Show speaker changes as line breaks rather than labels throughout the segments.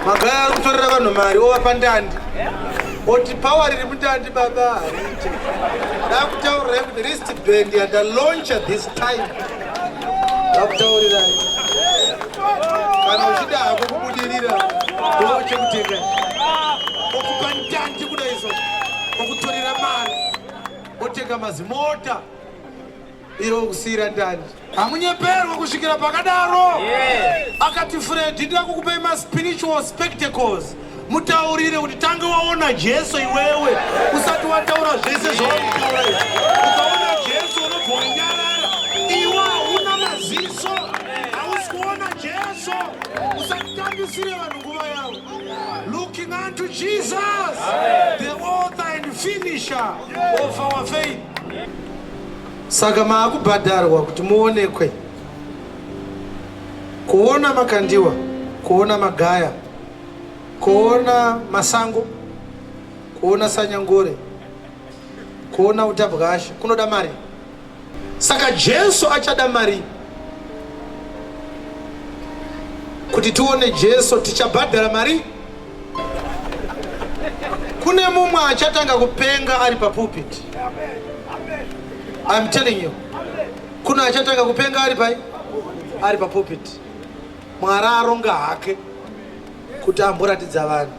magaya ari kutorera vanhu mari ovapa ndandi oti pawa riri mundandi baba hariite ndakutaurirai kuti rist band yandalauncha this time ndakutaurirai kana uchida hako kubudirira ndoa chekutenga okupa ndandi kudaiso okutorera mari otenga mazimota Iro kusira ndani. Hamunyeperwe kusvikira pakadaro. Yes. Akati Freddy ndida kukupei ma spiritual spectacles. Mutaurire kuti tange waona Jesu iwewe usati wataura zvese zvawaitaura. Ukaona Jesu unobonyarara. Iwe hauna maziso. Hausi kuona Jesu. Usatangisire vanhu nguva yavo. Looking unto Jesus. Amen. The author and finisher yes. of our faith. Saka maakubhadharwa kuti muonekwe. Kuona makandiwa, kuona magaya, kuona masango, kuona sanyangore, kuona utabwasha kunoda mari. Saka Jesu achada mari. Kuti tione Jesu tichabhadhara mari Kune mumwe achatanga kupenga ari papulpit. I'm telling you. Kuna achatanga kupenga ari pai? Ari papulpit. Mwari aronga hake kuti amboratidza vanhu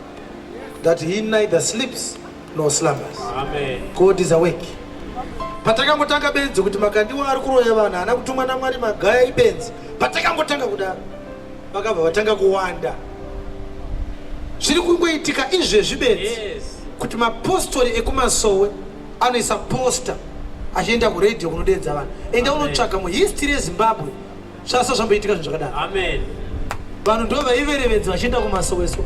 that he neither sleeps no slumbers Amen. God
is awake
patakangotanga benzi kuti makandiwa ari kuroya vanhu haana kutumwa namwari magaya ibenzi patakangotanga kudaro vakabva vatanga kuwanda zviri kungoitika izvezvi benzi yes. kuti mapostori ekumasowe anoisa posta achienda kuradio kunodeedza vanhu enda unotsvaga muhistory yezimbabwe zvasa zvamboitika zvinhu zvakadaro amen
vanhu ndo
vaiverevedza vachienda kumasoweso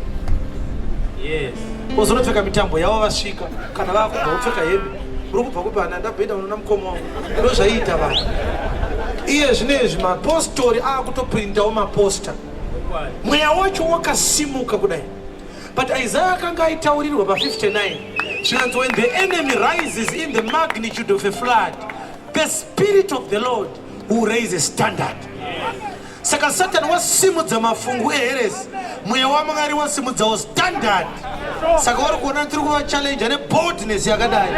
yes
kozonopfeka
mitambo yavo vasvika kana vava kubva kupfeka hembe uri kubva kupana ndabhenda unoona mukoma wangu ndo zvaiita vanhu iye zvine izvi mapostori akutoprindawo maposta mweya wacho wakasimuka kudai but isaya akanga aitaurirwa pa59 zvikanzi when the enemy rises in the magnitude of a flood the spirit of the lord who raise a standard saka satani wasimudza mafungu eheresi mweya wamwari wasimudzawo standard saka wari kuona tiri kuva challenge neboldness yakadai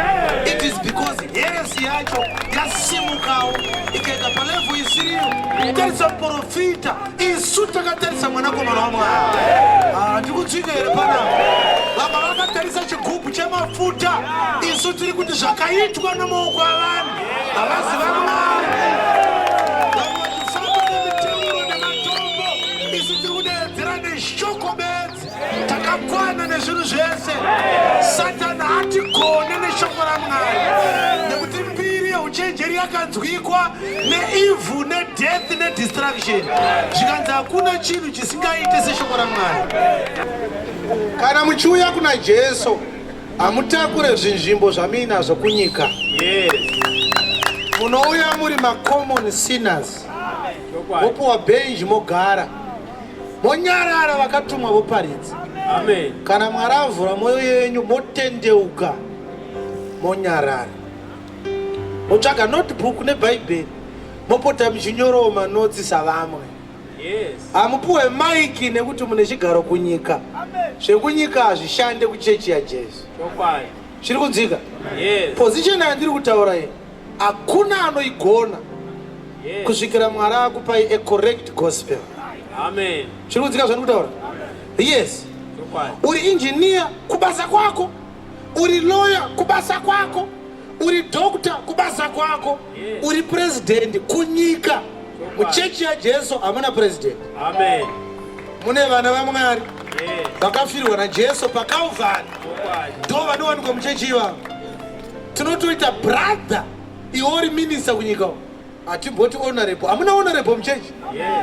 it is because heresi yacho yasimukawo ikaita palevo isiriyo tarisaporofita isu takatarisa mwanakomana wamwari ah, ndikutsvine here pana vamwe vakatarisa chigubhu chemafuta isu tiri kuti zvakaitwa nemaoko avanhu havazi vamwari vamwe vachifamba nemiteuro nematombo isu tiri kudeedzera neshoko bedzi takakwana nezvinhu zvese satani hatigone neshoko ramwari nekuti mbiri yeuchenjeri yakanzwikwa neivhu nedeath nedistruction zvikanzi hakuna chinhu chisingaite seshoko ramwari kana muchiuya kuna jesu hamutakure zvinzvimbo zvamuinazvo kunyika munouya muri macommon sinners mopuwa benji mogara monyarara vakatumwa voparidza amen kana
mwari avhura
mwoyo yenyu motendeuka monyarara motsvaga notebook nebhaibheri mopota muchinyorowo manotsi savamwe hamupiwe yes. maiki nekuti mune chigaro kunyika zvekunyika hazvishande kuchechi yajesu zviri kunzwika yes. position yandiri kutaura iyi Hakuna anoigona kusvikira Mwari akupai a correct gospel. Amen.
Chiri kudzika zvani
kutaura? Yes. Uri engineer kubasa kwako. Uri lawyer kubasa kwako. Uri doctor kubasa kwako. Uri president kunyika. Muchechi yaJesu hamuna president. Amen.
Mune
vana vaMwari. Vakafirwa naJesu paKalvari. Ndovandowanikwa muchechi ivavo. tinotoita brother iori minister kunyika hatimboti honorable hamuna honorable muchechi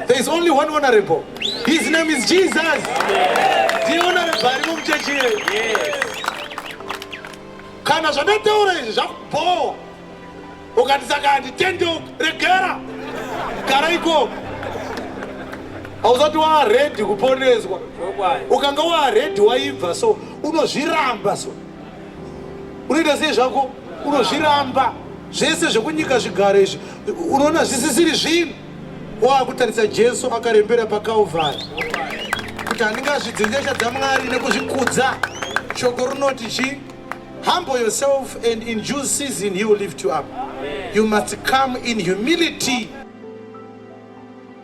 there is only one honorable his name is jesus ndiye honorable arimo muchechi iyeyo kana zvandataura izvi zvakubhowa ukati saka handitende regera gara ikoko hausati waaredi kuponeswa ukanga waaredi waibva so unozviramba so unoita sei zvako unozviramba zvese zvekunyika zvigaro izvi unoona zvisisiri zvinhu waakutarisa jesu akarembera pakalvari kuti handingazvidze nyasha dzamwari nekuzvikudza shoko rinoti chii humble yourself and in due season he will lift you up you must come in humility